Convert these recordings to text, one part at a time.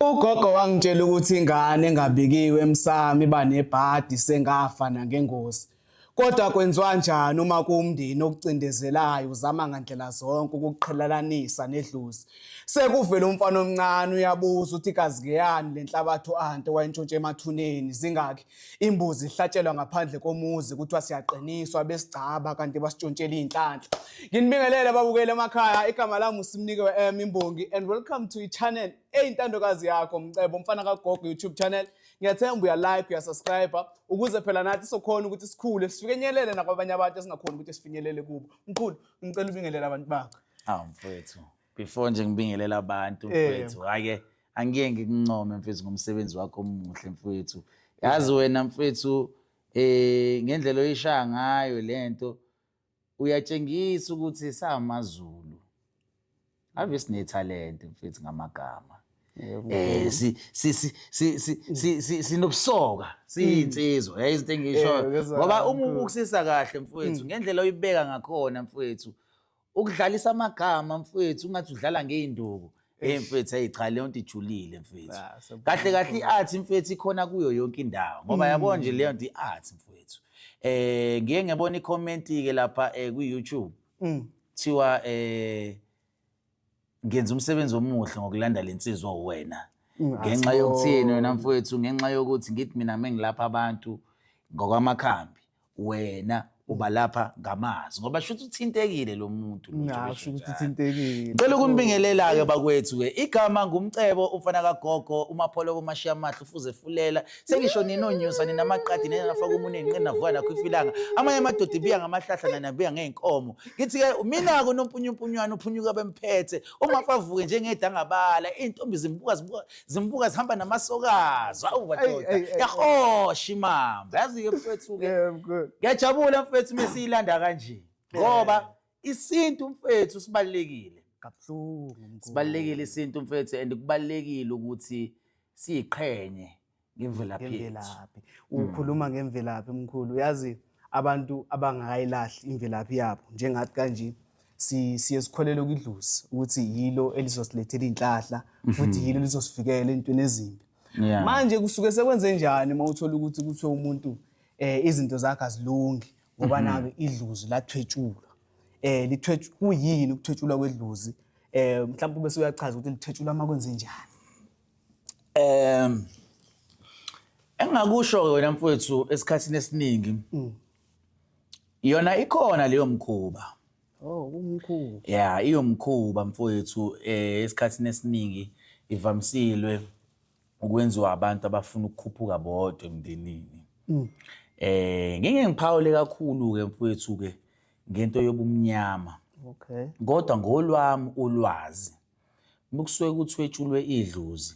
Ugogo wangitshela ukuthi ingane engabikiwe emsamo iba nebhadi sengafa nangengozi. Kodwa kwenziwa njani uma kuwumndeni okucindezelayo uzama ngandlela zonke ukuqhelelanisa nedlozi? Sekuvela umfana omncane uyabuza ukuthi kazi ngeyani le nhlabathi u-ante wayintshontshe emathuneni zingaki imbuzi ihlatshelwa ngaphandle komuzi kuthiwa siyaqiniswa besigcaba kanti basitshontshela iy'nhlanhla. Nginibingelele babukele emakhaya igama lami usimnike we-m imbongi and welcome to i-channel eyintandokazi yakho mcebo umfana kagogo youtube channel ngiyathemba uyalike uyasubscribe ukuze phela nathi sokhona ukuthi sikhule sifinyelele nakwabanye abantu esingakhona ukuthi sifinyelele kubo mkhulu ngicela ubingelele abantu bakho awu mfowethu before nje ngibingelela abantu eh. mfowethu hake angiye ngikuncome mfowethu ngomsebenzi wakho omuhle mfowethu yazi wena mfowethu eh ngendlela oyishaya ngayo lento uyatshengisa ukuthi samaZulu ave sinethalente mfethu ngamagama eh si si si si sinobusoka siyinsizwa yayi izinto engishoyo ngoba uma ubukusisa kahle mfethu ngendlela oyibeka ngakhona mfethu ukudlalisa amagama mfethu ungathi udlala ngeinduku Hey mfethu hey cha leyo nto ijulile mfethu. Ah, so- Kahle kahle i-art mfethu ikhona kuyo yonke indawo ngoba yabo nje leyo nto i-art mfethu. Eh ngiye ngebona i-comment ke lapha eh ku-YouTube. Kuthiwa eh ngenza umsebenzi omuhle ngokulanda lensizwa uwena. Ngenxa yokuthini wena mfethu ngenxa yokuthi ngithi mina mengilapha abantu ngokwamakhambi wena uba lapha ngamazwi ngoba shuthi uthintekile lo muntu lo njengoba ngasho ukuthi eshinjalo. thintekile Ngicela ukumbingelela-ke bakwethu-ke igama ngumcebo umfana kagogo umapholoko umashiya amahle ufuze fulela sengisho ninonyusa ninamaqadi ninafaka umuntu enqini navuka nakho ifilanga amanye amadoda ibiya ngamahlahla nanabiya ngey'nkomo ngithi-ke mina-ke unompunyumpunywana uphunyuka bemphethe uma favuke njengedangabala iy'ntombi zimbuka zibuka zimbuka zihamba namasokazi awu badoda yahosha imamba yazi-ke mfethu-ke ngiyajabula mfethu uma siyilanda kanje ngoba isintu mfethu sibalulekile kabuhlungu sibalulekile isintu mfethu and kubalulekile ukuthi siyiqhenye ngemvelaphi yethu ukhuluma ngemvelaphi mkhulu yazi abantu abangakayilahli imvelaphi yabo njengathi kanje siye sikholele kwidlozi ukuthi yilo elizosilethela iy'nhlahla mhm. futhi yilo elizosivikela entweni ezimbi manje kusuke sekwenze njani uma uthola ukuthi kuthiwe umuntu um izinto zakhe azilungi ngoba mhm. nake idlozi lathwetshulwa um kuyini ukuthwetshulwa kwedlozi um mhlawumbe ube seyachaza ukuthi lithetshulwa uma kwenze njani um engingakusho wena mfowethu esikhathini esiningi mm. yona ikhona leyo mkhuba oh umkhuba ya iyomkhuba mfowethu um esikhathini esiningi ivamisilwe ukwenziwa abantu abafuna ukukhuphuka bodwa emndenini mm. eh ngeke ngiphawule kakhulu ke mfowethu ke ngento yobumnyama okay kodwa ngolwami ulwazi Uma kusuke kuthwetshulwe idlozi,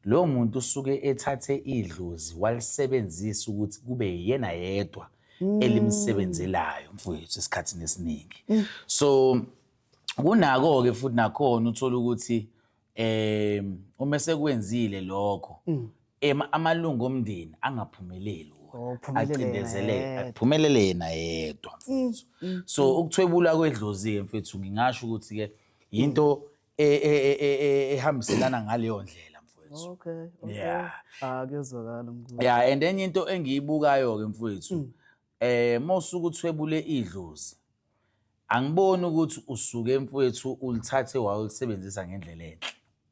lowo muntu usuke ethathe idlozi walisebenzisa ukuthi kube yena yedwa mm. elimsebenzelayo mfowethu esikhathini esiningi. Mm. So kunako-ke futhi nakhona uthola ukuthi eh uma esekwenzile lokho mm. amalungu omndeni angaphumeleli Oh, acindezeleke aphumelele yena yedwa mfethu mm, mm, so mm. ukuthwebula kwedlozi-ke mfethu ngingasho ukuthi-ke yinto e- e- e- e- e- ehambiselana ngaleyo ndlela mfowethu okay okay Yeah. ah kuyezwakala mkhulu ya and enye into engiyibukayo ke mfowethu eh mosuku uthwebule idlozi angiboni ukuthi usuke mfowethu ulithathe wayolisebenzisa ngendlela enhle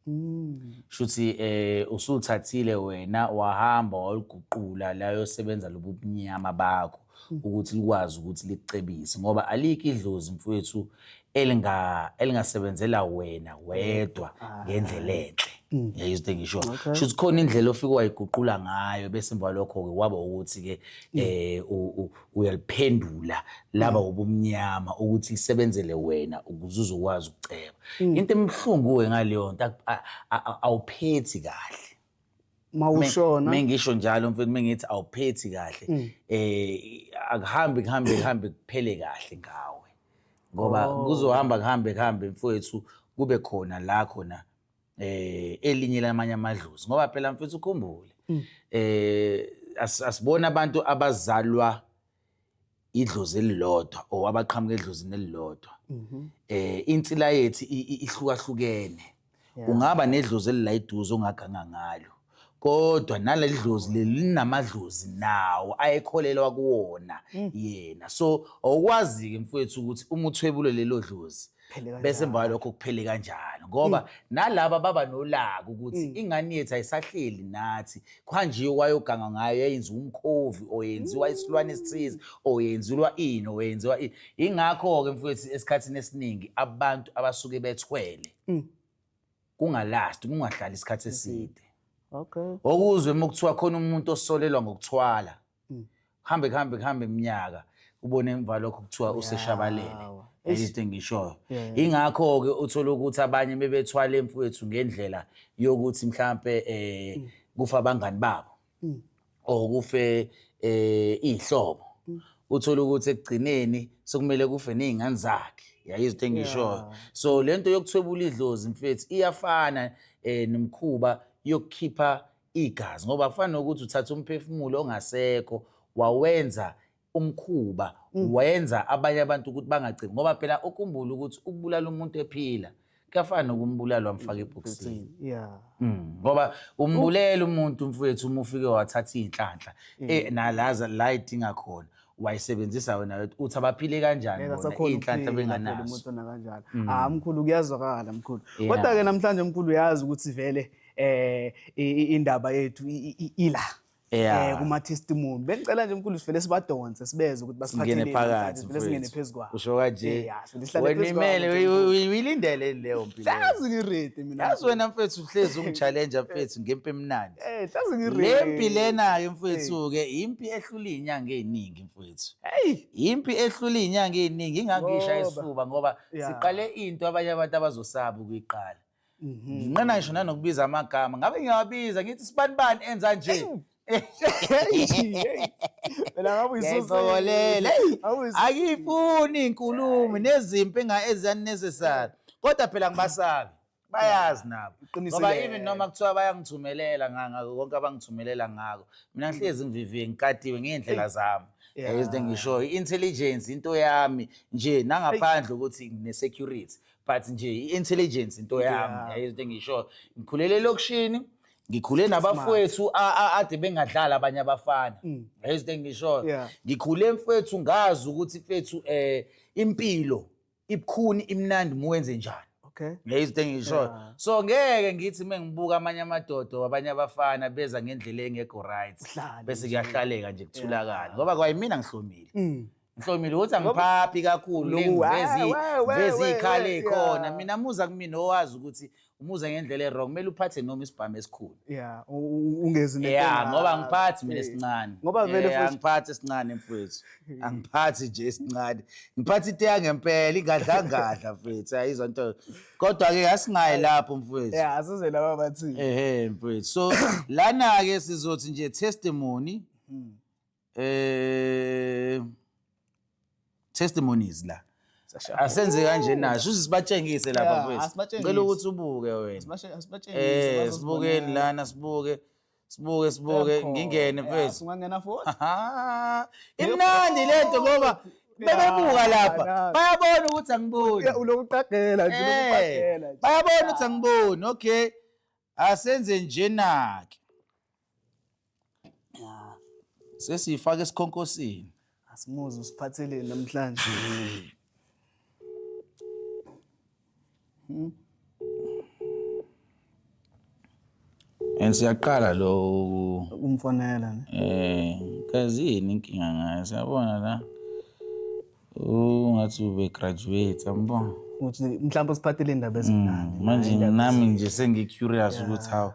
Mm. Shuthi eh usuthathile wena wahamba waliguqula la yosebenza lobubunyama bakho mm. ukuthi likwazi ukuthi licebise ngoba alikho idlozi mfowethu elinga elingasebenzela wena wedwa ah. ngendlela enhle mm. yayizwe engisho shuthi khona indlela ofika wayiguqula ngayo bese emva lokho ke waba ukuthi ke mm. eh uyaliphendula laba mm. ubumnyama ukuthi lisebenzele wena ukuze uzokwazi ukuceba mm. into emhlungu we ngaleyo nto awuphethi kahle mawushona mengisho njalo mfethu mengithi awuphethi kahle mm. eh akuhambi kuhambe kuhambe kuphele kahle ngawe ngoba oh. kuzohamba kuhambe kuhambe mfowethu kube khona la khona eh elinye lamanye amadlozi ngoba phela mfethu ukhumbule mm. eh asibona abantu abazalwa idlozi elilodwa or abaqhamuka edlozini elilodwa mhm. eh insila yethu ihlukahlukene ungaba nedlozi elilayiduze ongaganga ngalo kodwa naleli dlozi leli linamadlozi nawo ayekholelwa kuwona mm. yena so awukwazi-ke mfowethu ukuthi uma uthwebule lelo dlozi bese emva kwalokho kuphele kanjalo ngoba mm. nalaba baba nolaka ukuthi mm. ingane yethu ayisahleli nathi kuhanjiwe wayoganga ngayo yayenziwa umkhovi oyenziwa isilwane esithize oyenziwa ini oyenziwa ingakho-ke mfowethu esikhathini esiningi abantu abasuke bethwele kungalasti kungahlali isikhathi eside okay okuzwe uma kuthiwa khona umuntu osolelwa ngokuthwala hmm. kuhambe kuhambe kuhambe iminyaka ubone emva lokho kuthiwa useshabalele into engishoyo ingakho-ke uthole ukuthi abanye bebethwala emfowethu ngendlela yokuthi mhlampe um kufa abangani babo mm. or kufe eh ihlobo mm. uthola ukuthi ekugcineni sekumele kufe nezingane zakhe yayizithe ngishoyo so lento yokuthwebula idlozi mfethu iyafana eh nomkhuba yokukhipha igazi ngoba kufana nokuthi uthatha umphefumulo ongasekho wawenza umkhuba mm. wenza abanye abantu ukuthi bangagcini ngoba phela ukhumbula ukuthi ukubulala umuntu ephila kuyafana nokumbulala wamfaka ebhokisini mm. ngoba umbulela umuntu mfowethu uma ufike wathatha iy'nhlanhla mm. eh, nalaza la idinga khona wayisebenzisa wena uthi abaphile kanjani iy'nhlanhla benganazo ah mkhulu kuyazwakala mkhulu kodwa-ke namhlanje mkhulu uyazi ukuthi vele um indaba yethu ila Yeah. eh kuma testimony bengicela nje mkhulu sivele sibadonse sibeze ukuthi basiphathele Singene phakathi, vele singene mfethu. phezu kwabo usho kanje Eh, yeah, so lihlale wena phezu kwabo, imele nje, uyi- uyi- uyilindele leyo mpilo hlazi ngiredi mina yazi wena mfethu uhlezi ungi-challenja mfethu ngempi emnandi eh hlazi ngiredi le mpi lena-ke mfethu-ke impi ehlula iy'nyanga ey'ningi mfethu hey impi ehlula iy'nyanga ey'ningi ingakisha Ngoba. isifuba ngoba Yeah. siqale into abanye abantu abazosaba ukuyiqala Mhm. nginqena ngisho nanokubiza amagama ngabe ngiyawabiza ngithi sibani bani enza nje Phela ngabe uyisusa. ngiyayisokolela Eyi, Ngabe uyisusa. akiyifuni inkulumo nezimpi enga eziyanesesari kodwa phela ngibasabi bayazi nabo Iqiniso ngoba lelo. even noma kuthiwa bayangithumelela nga- ngako konke abangithumelela ngako mina ngihlezi ngiviviye ngikatiwe ngey'ndlela zami Yeah. Yabo izinto engishoyo i-intelligence into yami nje nangaphandle ukuthi ngine-security but nje i-intelligence into yami Yeah. yayo into engisho ngikhulele elokishini ngikhule nabafowethu a- a- ade bengadlali abanye abafana yayo into engishoyo Mm. Yeah. ngikhule mfethu ngazi ukuthi mfethu um impilo ibukhuni imnandi muwenze njani okay yayo into engishoyo Yeah. so ngeke ngithi uma ngibuka amanye amadodo abanye abafana beza ngendlela engekho right Uhlale bese kuyahlaleka nje kuthulakala ngoba kwayimina ngihlomile Mm. Mhlomile ukuthi angiphaphi kakhulu nengivezi vezi ikhale khona mina muza kumina owazi ukuthi umuza ngendlela ewrong kumele uphathe noma isibhamu esikhulu yeah ungezi ne yeah ngoba ngiphathi mina esincane ngoba vele futhi ngiphathi esincane mfethu angiphathi nje esincane ngiphathi ite yangempela ingadlangadla mfethu ayizwa into kodwa ke asingayi lapho mfethu yeah asize laba bathi ehe mfethu so lana ke sizothi nje testimony hmm. eh testimonies la asenze kanje naso uze sibatshengise lapha Yeah, mfethu asibatshengise. ngicela ukuthi ubuke wena Asibashe- asibashengise, eh bazosibona. sibukeni lana sibuke sibuke sibuke Kuyakho. ngingene Yeah, mfethu singangena futhi Aha. imnandi lento ngoba bebebuka lapha Yeah. bayabona ukuthi angiboni ulokuqagela Eh, bayabona ukuthi angiboni okay asenze njena-ke Ya, sesiyifaka esikhonkosini asimuzwe usiphatheleni namhlanje. and siyaqala lo Ukumfonela ne. um kazini inkinga ngayo siyabona la ungathi ubegraduate yangibona ukuthi mhlawumbe usiphathele indaba ezimnandi Mm, manje nami nje sengi-curious ukuthi hawu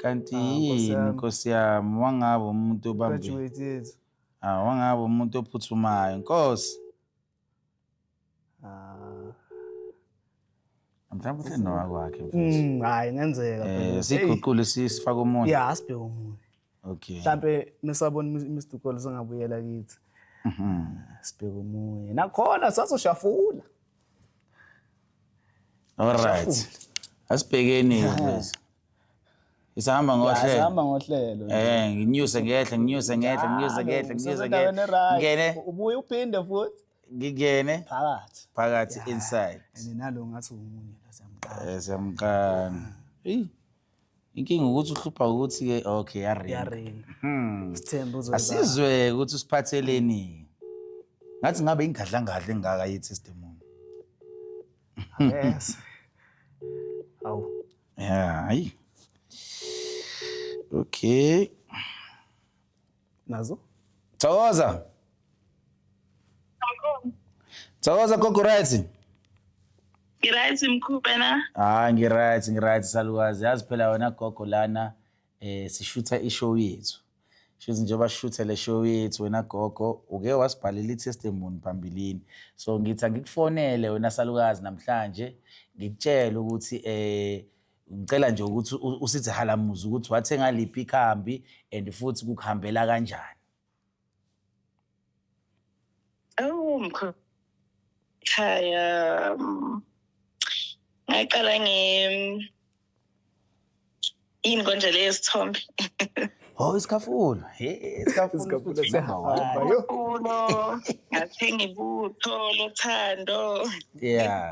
kanti yini Ah, nkosi yami wangabe umuntu obambe graduate yethu Ah, wangabe umuntu ophuthumayo nkosi Ah, mhlawumbe uhleli nowakwakhe mfethu Mm, hayi ngenzeka um phela. siyiguqule si- sifake omunye ya asibheke omunye okay mhlawumbe mesabona mr cole singabuyela kithi Mhm. sibheke omunye nakhona sazoshafula alright asibhekeni mfethu isihamba ngohlelo sihamba ngohlelo Eh, nginyuse ngehla, nginyuse ngehla, nginyuse ngehla, nginyuse ngehla. Ngene. ubuye uphinde futhi ngingene phakathi phakathi inside and nalo ngathi umunye la siyamqala eh siyamqala hey inkinga ukuthi uhlupha ukuthi ke okay ya ring hmm sithemba uzoba asizwe ukuthi usiphatheleni ngathi ngabe ingadla ngadla engaka yi testimony yes awu yeah hayi okay nazo thokoza thokoza gogo right ngiright mkhulu wena hayi ngiright ngiright salukazi yazi phela wena gogo lana eh sishutha ishow yethu shuthi njengoba sishuthe le show yethu wena gogo uke wasibhalela i-testimony phambilini so ngithi angikufonele wena salukazi namhlanje ngikutshele ukuthi eh ngicela nje ukuthi u- usithi halamuza ukuthi wathenga liphi ikhambi and futhi kukuhambela kanjani Awu mkhaya mm, ngaqala nge yini konje leyo sithombe oh isikhafulo he isikhafulo Isikhafulo futhi se- number one. Hamba yo. ulo ngathenga ibutho lothando yeah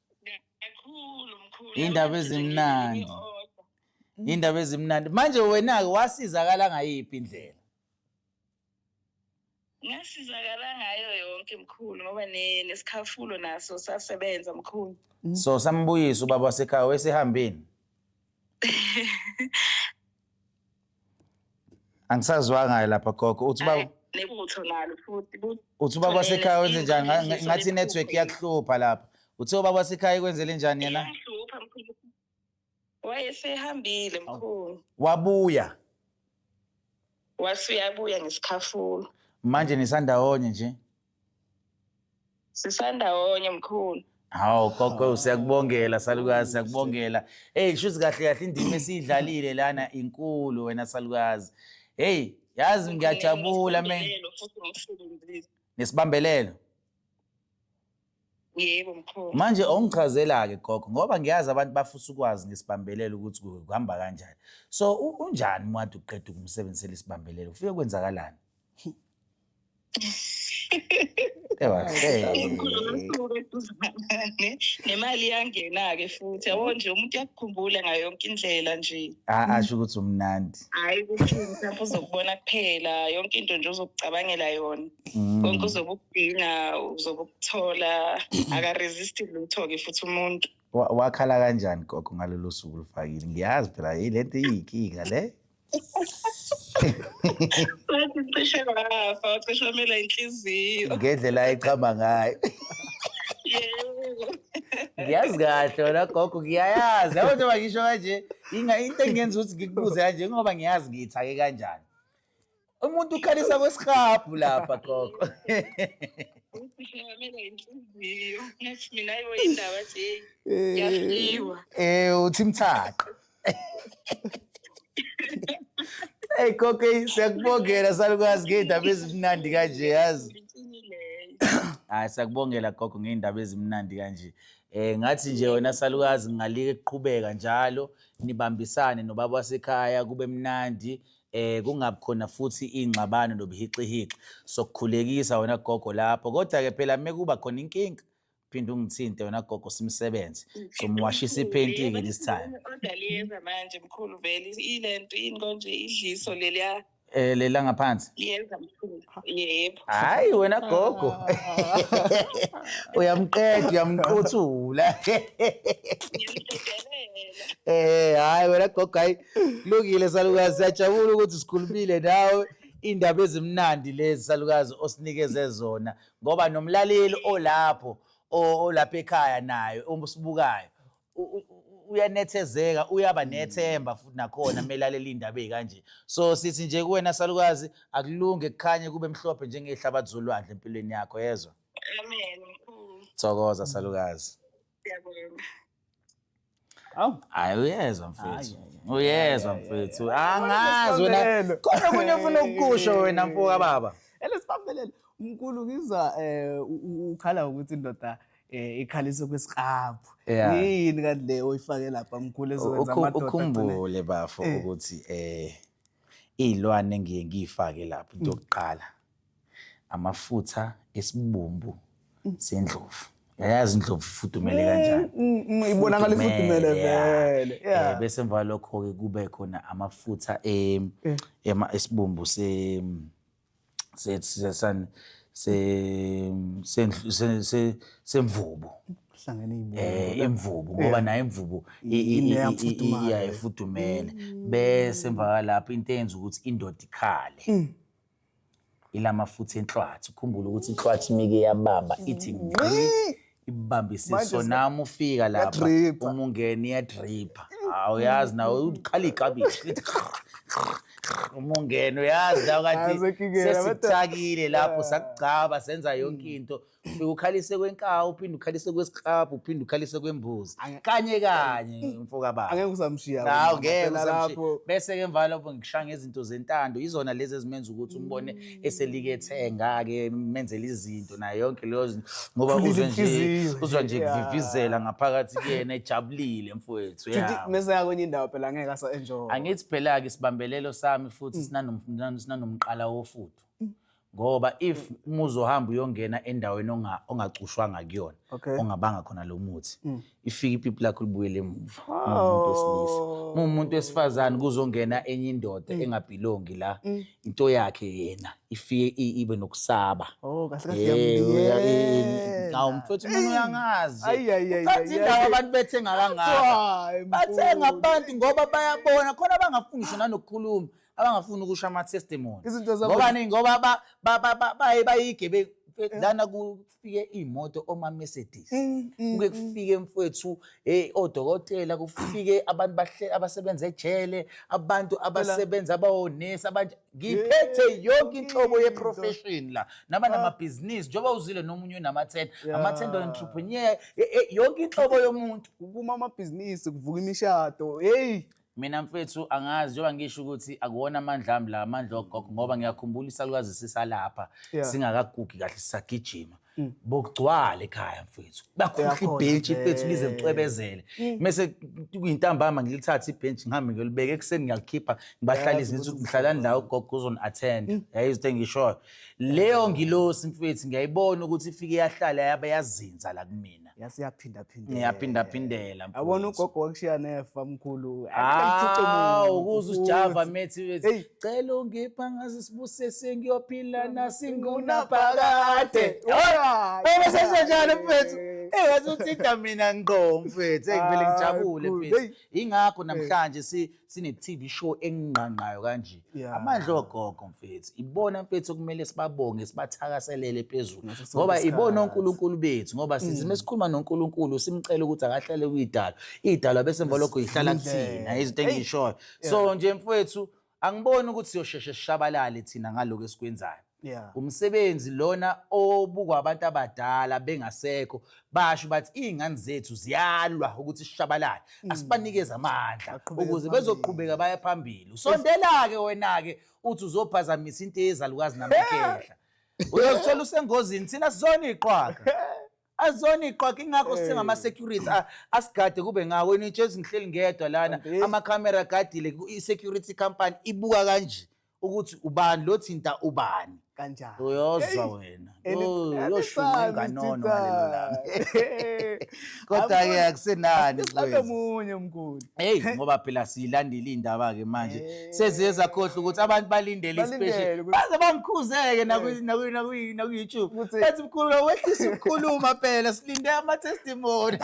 kakhulu mkhulu Iy'ndaba ezimnandi. iy'ndaba ezimnandi manje wena-ke wasizakala ngayiphi indlela ngasizakala ngayo yonke mkhulu ngoba ne- nesikhafulo naso sasebenza mkhulu so sambuyisa ubaba wasekhaya wesehambeni angisazwanga lapha gogo uthi uba nekutho nalo futhi uthi ubaba wasekhaya wenze njani Nga- nga- ngathi i-network iyakuhlupha lapha uthe ubaba wasekhaya ikwenzele njani yena iyahlupha mkhulu wayesehambile mkhulu wabuya wasuyabuya ngesikhafulo manje nisandawonye nje sisandawonye mkhulu hawu gogo siyakubongela salukazi siyakubongela eyi shuthi kahle kahle indima esiyidlalile lana inkulu wena salukazi heyi yazi ngiyajabula me Nginesibambelelo futhi ngimsebenzile. nesibambelelo Yebo mkhulu. Manje ongichazela ke gogo ngoba ngiyazi abantu bafisa ukwazi ngesibambelelo ukuthi kuhamba kanjani. So unjani mwathi uqeda ukumsebenzisela isibambelelo ufike kwenzakalani? nemali iyangena-ke futhi yabo nje umuntu uyakukhumbula ngayo yonke indlela nje asho ukuthi umnandi hhayi kuphutha uzokubona kuphela yonke into nje uzokucabangela yona Mm. konke uzobe ukudinga uzobe ukuthola akaresist lutho-ke futhi umuntu Wa- wakhala kanjani gogo ngalolo suku lufakile ngiyazi phela hey le nto iyinkinga le wathi cishe wafa wacishe wamela inhliziyo ngendlela ayichama ngayo yebo ngiyazi kahle wena gogo ngiyayazi yabo njengoba ngisho kanje Inga into engenza ukuthi ngikubuze kanje ngoba ngiyazi ngiyithake kanjani. Umuntu ukhalisa kwesihabhu lapha gogo. Eh uthi mthaqa. Hey gogo siyakubongela salukwazi ngeindaba ezimnandi kanje yazi. Hayi sakubongela gogo ngeindaba ezimnandi kanje. Eh ngathi nje wena salukazi ngingalike kuqhubeka njalo nibambisane nobaba wasekhaya kube mnandi eh kungabi khona futhi ingxabano nobuhixihixi sokukhulekisa wena gogo lapho kodwa ke phela mekuba khona inkinga phinde ungithinte wena gogo simsebenze somuwashisa iphenti ke this time Kodwa liyeza manje mkhulu vele ilento yini konje idliso leliya. Eh le la ngaphansi. Yenza mkhulu. Yebo. Hayi wena gogo. Uyamqeda uyamquthula. Eh hayi wena gogo hayi kulungile salukazi siyajabula ukuthi sikhulumile nawe indaba ezimnandi lezi salukazi osinikeze zona ngoba nomlaleli olapho o- olapha ekhaya naye uma usibukayo uyanethezeka uyaba hmm. nethemba futhi nakhona melalela indaba ezikanje so sithi nje kuwena salukazi akulunge kukhanye kube mhlophe njengehlabathi zolwandle empilweni yakho yezwa amen thokoza salukazi siyabonga awu hayi uyezwa mfethu uyezwa mfethu angazi wena kodwa kunye ufuna ukukusho wena mfoka baba elesibambelele umkhulu ngizwa um ukhala ukuthi indoda eh ikhalise kwesiqaphu Yeah. yini kanti le oyifake lapha mkhulu ezokwenza Ukhu- amadoda agcine- ukhumbule bafo Eh. ukuthi eh izilwane engiye ngiyifake lapho into yokuqala amafutha esibumbu sendlovu yayazi indlovu ifudumele kanjani Mm, mm, ibonakala ifudumele Ifudumele, yeah. vele Eh, yeah. bese emva lokho ke kube khona amafutha em- ema- esibumbu se se- se- sani, se- sendlu- se- se- semvubu Hlangene ibuya. eh imvubu ngoba nayo imvubu i- i- i- i- i- Iyafudumala. Mm. iyaye ifudumele bese emva kwalapho into eyenza ukuthi indoda ikhale Mm. ilamafutha enhlwathi ukhumbule ukuthi inhlwathi imike yabamba ithi ngqi ibambisiso Manje se- nami ufika lapha Yadripha. uma ungena iyadripha hawu uyazi nawe ukhala ikabishi lithi uma ungena uyazi nawe Hayi, kathi sekingena, bade- sesikuthakile lapho sakugcaba senza yonke into ufike ukhalise kwenkawu uphinde ukhalise kwesiklabhu uphinde ukhalise kwembuzi Ange- kanye kanye mfokababa angeke usamshiya nawu wena, ngeke phela usamshiya. lapho bese-ke emva lapho ngikushaya ngezinto zentando yizona lezi ezimenza ukuthi umbone eselike ethenga-ke menzela izinto nayo yonke leyo zinto ngoba Khulile uzwe nje inhliziyo. uzwa nje Yeah. kuvivizela ngaphakathi kuyena ejabulile mfowethu Futhi yeah. mese yakwenye indawo phela ngeke asa enjoy. angithi phela-ke isibambelelo sami futhi sinanom- sinan- sinanomqala wofudu ngoba if uma uzohamba uyongena endaweni onga- ongacushwanga kuyona Okay. ongabanga khona lo muthi ifike ipipi lakho libuyele emuva muwumuntu wesilisa Oh. muwumuntu wesifazane kuzongena enye indoda Mm. engabhilongi la into yakhe yena ifike i- ibe nokusaba Oh, kahle kahle Eh, uya- ngiyamyeka. eh, awu, mfethu mina uyangazi Ayi, ayi, ayi, Ucathi ayi, indawo ayi. abantu bethenga kangaka Hayi, bathenga mfowethu. abantu ngoba bayabona khona abangafuni ngisho nanokukhuluma abangafuni ukusho ama-testimony Izinto zabo- ngoba ni ngoba ba- ba- ba- ba- baye bayigebengu lana ku- kufike iy'moto oma-mercedes mm, mm, kuke mm. kufike mfwethu hey odokotela kufike abantu abasebenza ejele abantu abasebenza abawonesi abanje ngiphethe yonke inhlobo ye-profession la naba ah. namabhizinisi njengoba uzile nomunye unama-ten ama-ten entrepreneur yonke inhlobo yomuntu kuma amabhizinisi kuvuka imishado heyi mina mfethu angazi njengoba ngisho ukuthi akuwona amandla ami la amandla ogogo ngoba ngiyakhumbula isalukazi sisalapha Yeah. singakagugi kahle sisagijima Mm. bokugcwala ekhaya mfethu bakhohle Uyakhona ibhentshi impela. mfethu lize licwebezele Mm. mese kuyintambama ngilithathe ibhentshi ngihambe ngiyolibeka ekuseni ngiyalikhipha ngibahlalise ngithi ngihlalani la ugogo uzoni-attend Mm. yayizitho engishoyo leyo ngilosi mfethu ngiyayibona ukuthi ifike yahlala yabe yazinza la kumina yasiyaphindaphindela niyaphindaphindela yabona ugogo wakushiya nefa mkhulu hawu kuze usijava methi bethi cela ungipha ngaze sibuse sengiyophila nasinguna phakade bese senjalo mfethu engathi uthinta mina ngqo mfethu engivele ngijabule mfethu ingakho namhlanje si sine-TV show engqangqayo kanje Yeah. amandla ogogo mfethu ibona mfethu okumele sibabonge sibathakaselele phezulu Ngaso sonke ngoba ibona isikhathi. onkulunkulu bethu ngoba sithi uma sikhuluma nonkulunkulu simcele ukuthi akahlale kuyidalwa idalwa bese emva lokho yihlala Indlela. kuthina izinto Eyi. engiyishoyo so nje mfethu angiboni ukuthi siyosheshe sishabalale thina ngalokho esikwenzayo Yeah. Umsebenzi lona obukwa abantu abadala bengasekho basho bathi izingane zethu ziyalwa ukuthi sishabalale mm. asibanikeze amandla ukuze bezoqhubeka baya phambili usondela ke wena ke uthi uzophazamisa into ezalukazi namakehla uyozithola usengozini thina sizona iqhwaga azona iqhwaga ingakho singama security asigade kube ngawo nitshezi ngihleli ngedwa lana ama camera gadile i security company ibuka kanje ukuthi ubani lo thinta ubani kanjani uyozwa wena uyoshuma inganono ngalelo langa kodwa-ke akusenani omunye mkhulu heyi ngoba phela siyilandile iy'ndaba-ke manje seziye zakhohlwa ukuthi abantu balindele isipesheli baze bangikhuzeke naku-youtube bathi mkhulu wehlisa ukukhuluma phela silinde ama-testimony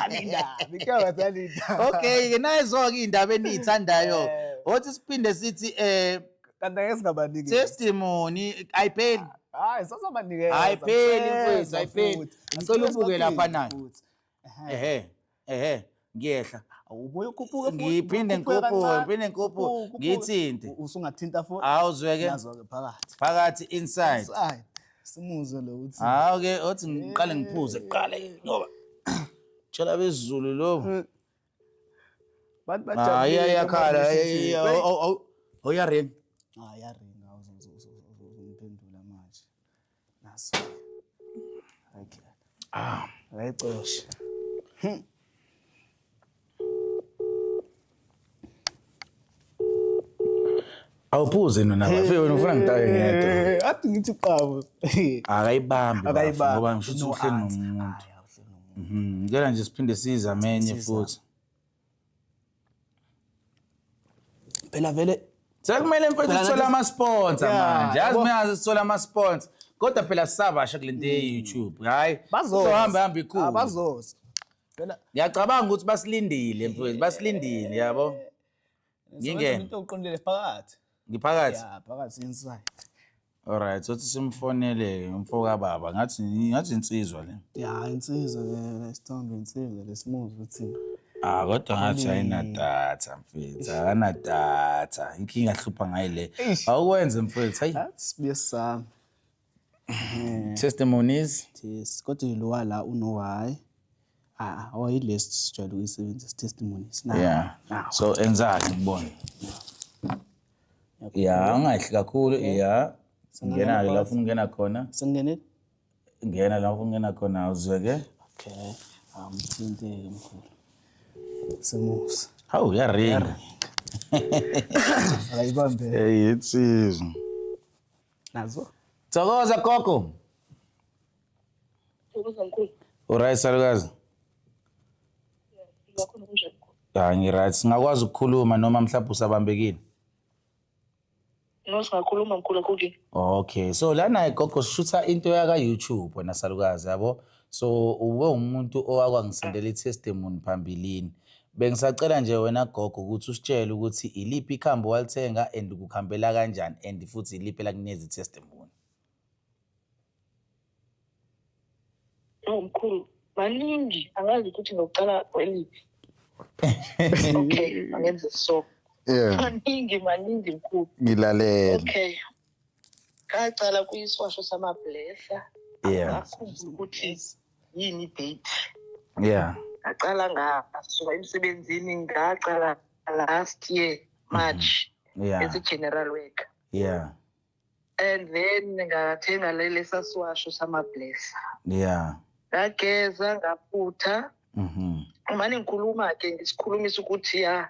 okay-ke nayezo-ke iy'ndaba eniyithandayo othi siphinde sithi um kanti angeke singabaniki testimony ayipheli hayi sazobanikeza ayipheli mfethu ayipheli ngicela ubuke lapha nayo ehe ehe ngiyehla ubuye ukhuphuke futhi ngiphinde ngikhuphuke ngiphinde ngikhuphuke ngithinte usungathinta futhi awuzweke nazweke phakathi phakathi inside simuzwe lo uthi hawu ke othi ngiqale ngiphuze kuqala ngoba tshela bezulu lo hmm. Abantu Ah, bajabulile iya iyakhala. manje Iya, sithi, iya, "Wait, aw- aw- aw- Awuyaring. Ah, yaringa uzongiphendula manje. Naso. Okay. Ah, Akayicoshe. awuphuze nona bafe wena ufuna ngitaye ngedwa Eh, athi ngithi qabo akayibambi Akayibambi. bafo, ngoba ngisho ukuthi No uhleli answer. nomuntu Hhayi, awuhleli nomuntu. Mhm, ngicela nje siphinde sizame enye Siza. futhi phela vele sekumele mfethu Phela sithole nathi- amasponsa Yeah, manje yazi yabo. mina sithole amasponsa kodwa phela sisabasha kule nto ye-youtube hhayi bazoza. uzohamba hamba Ah, ikhulu bazoza Cela ngiyacabanga ukuthi basilindile mfowethu, basilindile yabo. Ngingena. Into uqondile phakathi. Ngiphakathi. Yeah, phakathi inside. Alright, sothi simfonele umfoka baba. Ngathi ngathi insizwa le. Yeah, insizwa le isithombe insizwa lesimuzwa ukuthi Ah kodwa ngathi ayinadatha mfethu, akanadatha. Inkinga hlupha ngayi le. Awukwenze mfethu, hayi. That's besami. Eh. testimonies yes kodwa lo wala uno why ah oyilesi sijwayele ukuyisebenzisa testimonies na yeah ah. so enzani kubona ya ungahle kakhulu ya ngena la ufuna ungena khona singene ngena la ufuna ungena khona uzweke okay amthinte mkhulu simusa hawu yaringa ayibambe hey insizwa nazo thokoza gogo thokoza mkhulu uright salukazi ngakhona kunjani ya ngiright singakwazi ukukhuluma noma mhlawumbe usabambekile no singakhuluma mkhulu akukini okay so lana gogo sishutha into yaka-youtube wena salukazi yabo so ube umuntu owakwangisendela i-testimony phambilini bengisacela nje wena gogo ukuthi usitshele ukuthi iliphi ikhambi walithenga and kukhambela kanjani and futhi iliphi elakunikeza i-testimony Oh mkhulu, maningi angazi ukuthi ngokuqala kweliphi. Okay, angenze so. Yeah, Maningi maningi mkhulu. ngilalele. Okay. ngaqala kuyisiwasho samablesa yeah angafuni ukuthi yini date yeah ngaqala ngasuka emsebenzini ngaqala last year march mm-hmm. yeah as a general worker yeah and then ngathenga lelesa siwasho samablesa yeah ngageza ngaphutha mhm umane ngikhuluma ke ngisikhulumisa ukuthi ya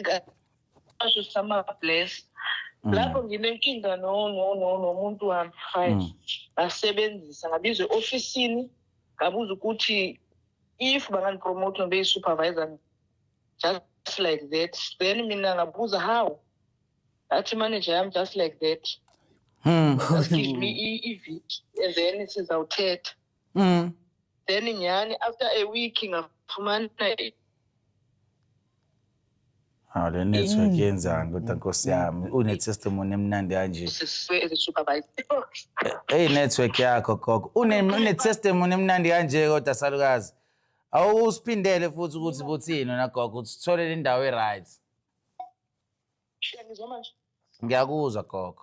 ngasho sama-bless mm. lapho nginenkinga nomuntu wami fine mm. ngasebenzisa ngabiza e-ofisini ngabuza ukuthi if bangandipromote ngibeyi-supervisor just like that then mina ngabuza how athi imanager yami just like that hmm. just give me iviki and then sizawuthetha mm. then nyhani after a week ngafumana hawu le network mm. yenzani kodwa nkosi yami une-testimony emnandi kanje eyi network yakho gogo une-testimony emnandi kanje kodwa salukazi awusiphindele futhi ukuthi buthini wena gogo ukuthi sithole le ndawo e-right ngiyakuzwa gogo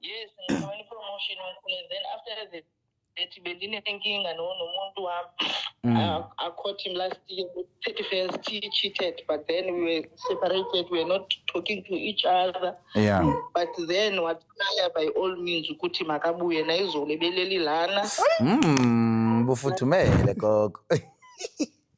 yes ngifumene i-promotion wakhona then after the ethi bendinenkinga no- nomuntu wami Mm. I- i caught him last year with 31st he cheated but then we were separated we were not talking to each other Yeah. but then wathaya by all means ukuthi makabuye nayizolo ebeleli lana Mm, bufudumele gogo.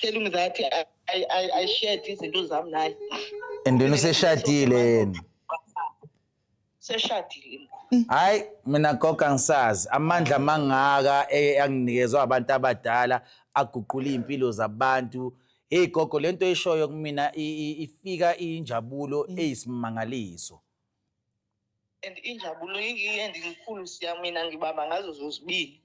tell him that I, I, I, I shared izinto zami naye and then useshadile yena seshadile hayi mina goga ngisazi amandla amangaka e- anginikezwa abantu abadala aguqula iy'mpilo zabantu heyi gogo le nto eshoyo kumina i- i- ifika injabulo eyisimangaliso and injabulo endinkulu siya mina ngibamba ngazo zozibini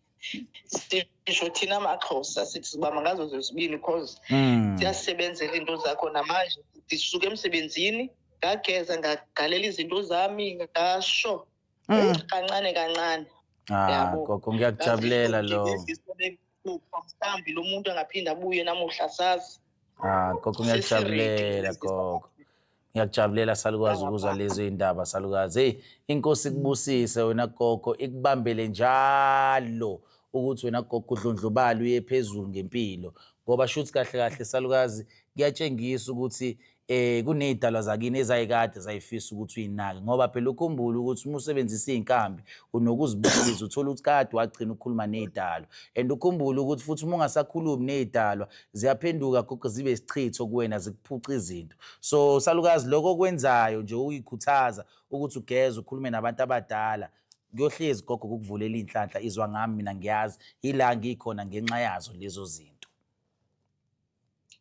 sisho thina amaxhosa sithi sibamba ngazo zozibini because hmm. siyasebenzela into zakho namanje ndisuke emsebenzini ngageza ngagalela izinto zami ngasho hmm. kancane kancane ah, yabo gogo ngiyakujabulela lo kufa mhlambi lo muntu angaphinde abuye namuhla sazi ah gogo ngiyakujabulela gogo ngiyakujabulela salukwazi ukuzwa lezo iy'ndaba salukazi heyi inkosi ikubusise wena gogo ikubambele njalo ukuthi wena gogo udlondlobala uye phezulu ngempilo ngoba shuthi kahle kahle salukazi kuyatshengisa ukuthi eh kunezidalwa zakini ezayikade zayifisa ukuthi uyinake ngoba phela ukhumbule ukuthi uma usebenzisa izinkambi unokuzibukisa uthola ukuthi kade wagcina ukukhuluma nezidalwa and ukhumbule ukuthi futhi uma ungasakhulumi nezidalwa ziyaphenduka gogo zibe isichitho kuwena zikuphuca izinto so salukazi lokho okwenzayo nje uyikhuthaza ukuthi ugeze ukhulume nabantu abadala kuyohlezi gogo kukuvulela inhlanhla izwa ngami mina ngiyazi ila ngikhona ngenxa yazo lezo zinto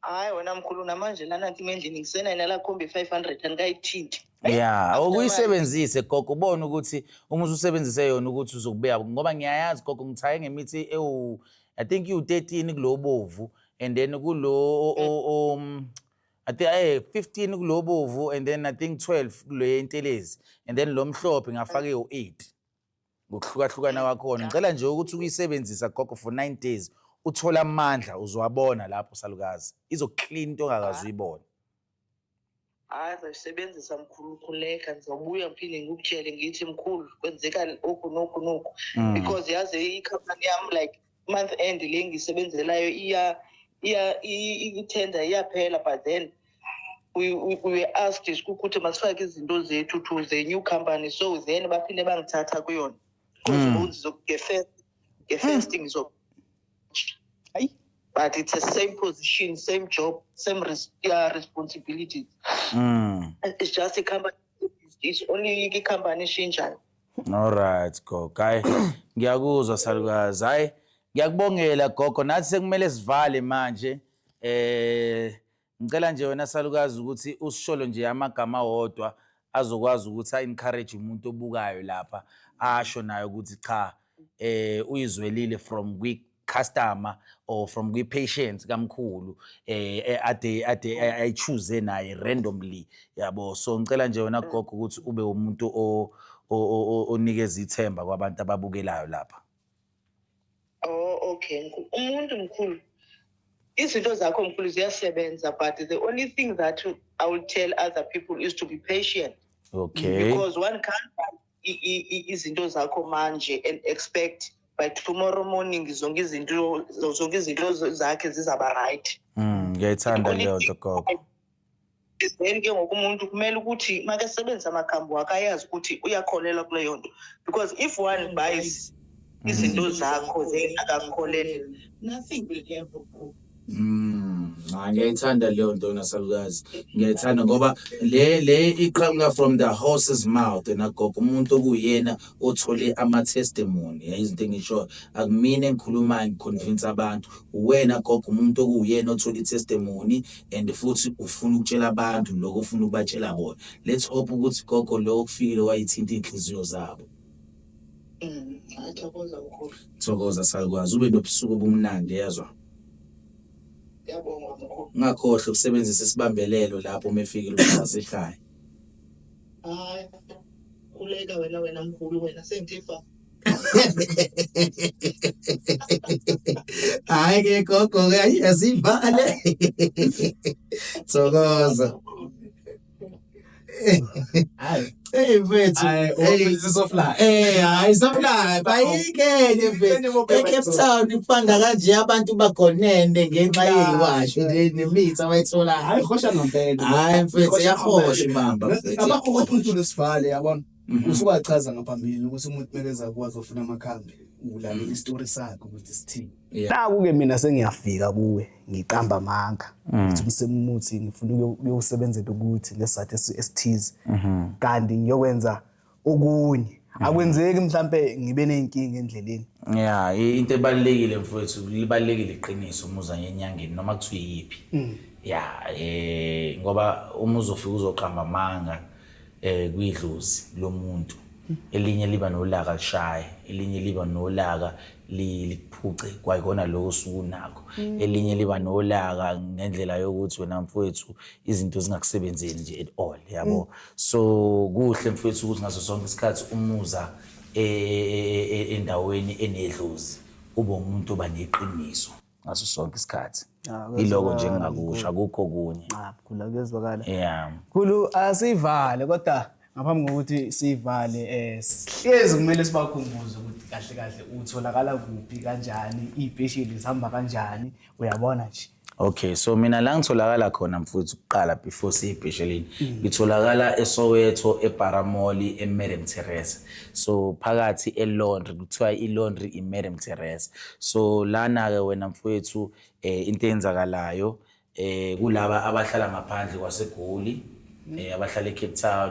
hayi wena mkhulu namanje lana kimi endlini ngisenayina la khombe 500 andikayithinti ya awukuyisebenzise gogo ubone ukuthi uma ususebenzise yona ukuthi uzokubuya ngoba ngiyayazi gogo ngithaye ngemithi ewu i think iwu-13 kulo bovu and then kulo um I think eh 15 kulobovu and then I think 12 kule yentelezi and then lo mhlophe ngafaka ewu 8 ngokuhlukahlukana kwakhona ngicela nje ukuthi ukuyisebenzisa gogo for nine days uthole amandla uzowabona lapho salukazi izoklina into ongakazi uyibone hayi zayisebenzisa mkhulu ukhuleka ngizobuya ngiphinde ngikutshele ngithi mkhulu kwenzeka oku noku noku mm. because yazi ikhampani yami like month end le ngisebenzelayo iya iya i-tender iyaphela but then we, we, we were asked ukuthi masifake izinto zethu to the new company so then baphinde bangithatha kuyona ngefirst ngefirst ngizo hayi but it's the same position same job same res yeah, responsibilities mm. it's just a company it's only i-company eshintshayo Alright gogo. Hayi ngiyakuzwa salukazi. Hayi ngiyakubongela gogo nathi sekumele sivale manje. Eh ngicela nje wena salukazi ukuthi usisholo nje amagama wodwa azokwazi ukuthi encourage umuntu obukayo lapha asho naye ukuthi cha eh uyizwelile from kwi customer or from kwi-patients kamkhulu eh, eh ade ade eh, ayichoose naye randomly yabo so ngicela nje wena gogo ukuthi ube umuntu o- o- o- o- onikeza ithemba kwabantu ababukelayo lapha Oh, okay. mkhulu. Umuntu mkhulu. Izinto zakho mkhulu ziyasebenza but the only thing that I will tell other people is to be patient okay because one can't buy izinto zakho manje and expect by tomorrow morning zonke izinto zonke izinto zakhe zizaba right mm ngiyayithanda leyo nto gogo then ke ngoku umuntu kumele ukuthi makesebenzisa amakhambi wakhe ayazi ukuthi uyakholelwa kuleyo nto because if one buys izinto zakho then akakholelwa nothing will ever go Mm, ah, ngiyayithanda leyo nto nasalukazi ngiyayithanda ngoba le le iqhamuka from the horse's mouth nagogo umuntu okuyena othole ama-testimony izinto engisho akumina engikhulumayo ngiconvince abantu uwena gogo umuntu okuwuyena othole i-testimony and futhi ufuna ukutshela abantu lokho ufuna ukubatshela bona let's hope ukuthi gogo lo okufikile wayithinta iy'nhliziyo zabo Mm, Athokoza mkhulu. Thokoza salukwazi ube nobusuku obumnandi yezwa. Yabonga mkhulu. Ungakhohlwa ukusebenzisa isibambelelo lapho uma efikile ukusasa ekhaya. Hayi. Kuleka wena wena mkhulu wena sengithifa. Hayi ke gogo ke ayivale. Thokoza. Hey mfethu, hey sisofla. Eh, hayi sofla. Bayikene mfethu. ECape Town ipanda kanje abantu bagonene ngenxa yeyiwasho nemithi abayithola. Hayi khosha ngempela. Hayi mfethu, yakhosha ibamba mfethu. Abakho kwaphuthulo sivale yabona. Mhm. Usuwachaza ngaphambili ukuthi umuntu mekeza kwazi ofuna amakhambi. Ulale istory sakhe ukuthi sithini. naku ke mina sengiyafika kuwe ngiqamba amanga mm. ngithi umsemuthi ngifuna ukuyosebenzela ukuthi ngesathi esithize mm-hmm. kanti ngiyokwenza okunye mm. akwenzeki mhlambe ngibe nenkinga endleleni ya into ebalekile mfowethu libalekile iqiniso umuza ngenyangeni noma kuthiwa yiphi mm. ya eh ngoba uma uzofika uzoqamba amanga eh kwidlozi lomuntu elinye liba nolaka lishaye elinye liba nolaka likuphuce kwayikona lokho osuke unakho mm. elinye liba nolaka ngendlela yokuthi wena mfowethu izinto zingakusebenzeli nje at all yabo mm. so kuhle mfowethu ukuthi ngaso sonke isikhathi umuza e, e, e, endaweni enedlozi ube umuntu oba neqiniso ngaso sonke isikhathi Ah, kuyezwakala. iloko nje engingakusho akukho okunye Ah, khula kuyezwakala yeah khulu asivale kodwa ngaphambi kokuthi sivale eh sihlezi kumele sibakhumbuze ukuthi kahle kahle utholakala kuphi kanjani iy'pesheli zihamba kanjani uyabona nje Okay, so mina la ngitholakala khona mfuthu kuqala before siyibheshelini. Ngitholakala eSoweto, eParamoli, eMadam Teresa. so phakathi elaundry kuthiwa ilaundry imadam teresa so lana-ke wena mfowethu um eh, into eyenzakalayo um eh, kulaba abahlala ngaphandle kwasegoli um eh, abahlala ecape town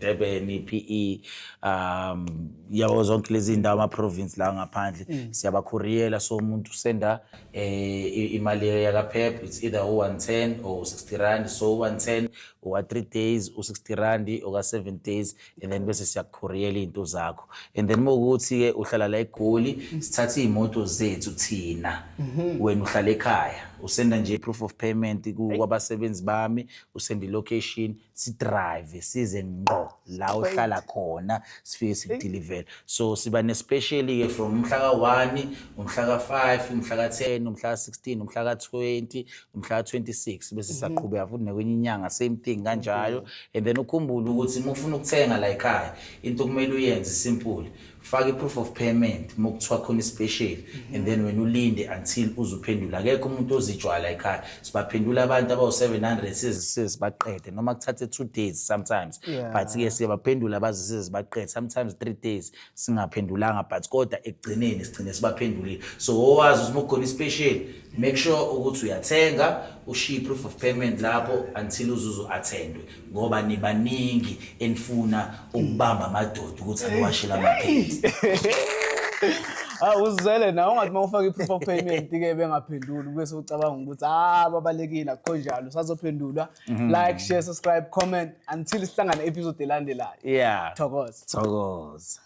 Durban iPE um yabo zonke lezi ndawo ama province la ngaphandle mm. siyabakhuriyela so umuntu senda eh, imali yaka PEP it's either 110 or 60 rand so 110 oka 3 days u 60 rand oka 7 days and then bese siyakukhuriyela izinto zakho and then mokuthi ke uhlala la eGoli sithatha izimoto zethu thina mhm. wena uhlala ekhaya usenda nje proof of payment kwabasebenzi bami usenda location si drive size ngqo la uhlala khona sifike sikudilivele so siba nespecially-ke from umhla ka-one umhla ka-five umhla ka-ten umhla ka-sixteen umhla ka-twenty umhla ka-twenty-six bese siyaqhubeka futhi nekwenye inyanga same thing kanjalo and then ukhumbule ukuthi uma ufuna ukuthenga la yikhaya into okumele uyenze simple faka i-proof of payment uma kuthiwa khona isipesheli and then wena ulinde until uze uphendule akekho umuntu ozijwala ekhaya sibaphendula abantu abawu-700 sizisize baqede noma kuthathe two days sometimes Yeah. but-ke siyabaphendula bazisize baqede sometimes three days singaphendulanga but kodwa ekugcineni sigcine sibaphendulile so owazi ukuthi uma kukhona isipesheli make sure ukuthi uyathenga ushiye i-proof of payment lapho until uzuze u-attendwe ngoba nibaningi enifuna ukubamba amadoda ukuthi aniwashele amaphenti Ah uzwele nawe ungathi mawufaka iproof of payment ke bengaphenduli bese ucabanga ukuthi ah babalekile akho njalo sazophendulwa mhm. like share subscribe comment until sihlangana episode elandelayo yeah thokoza thokoza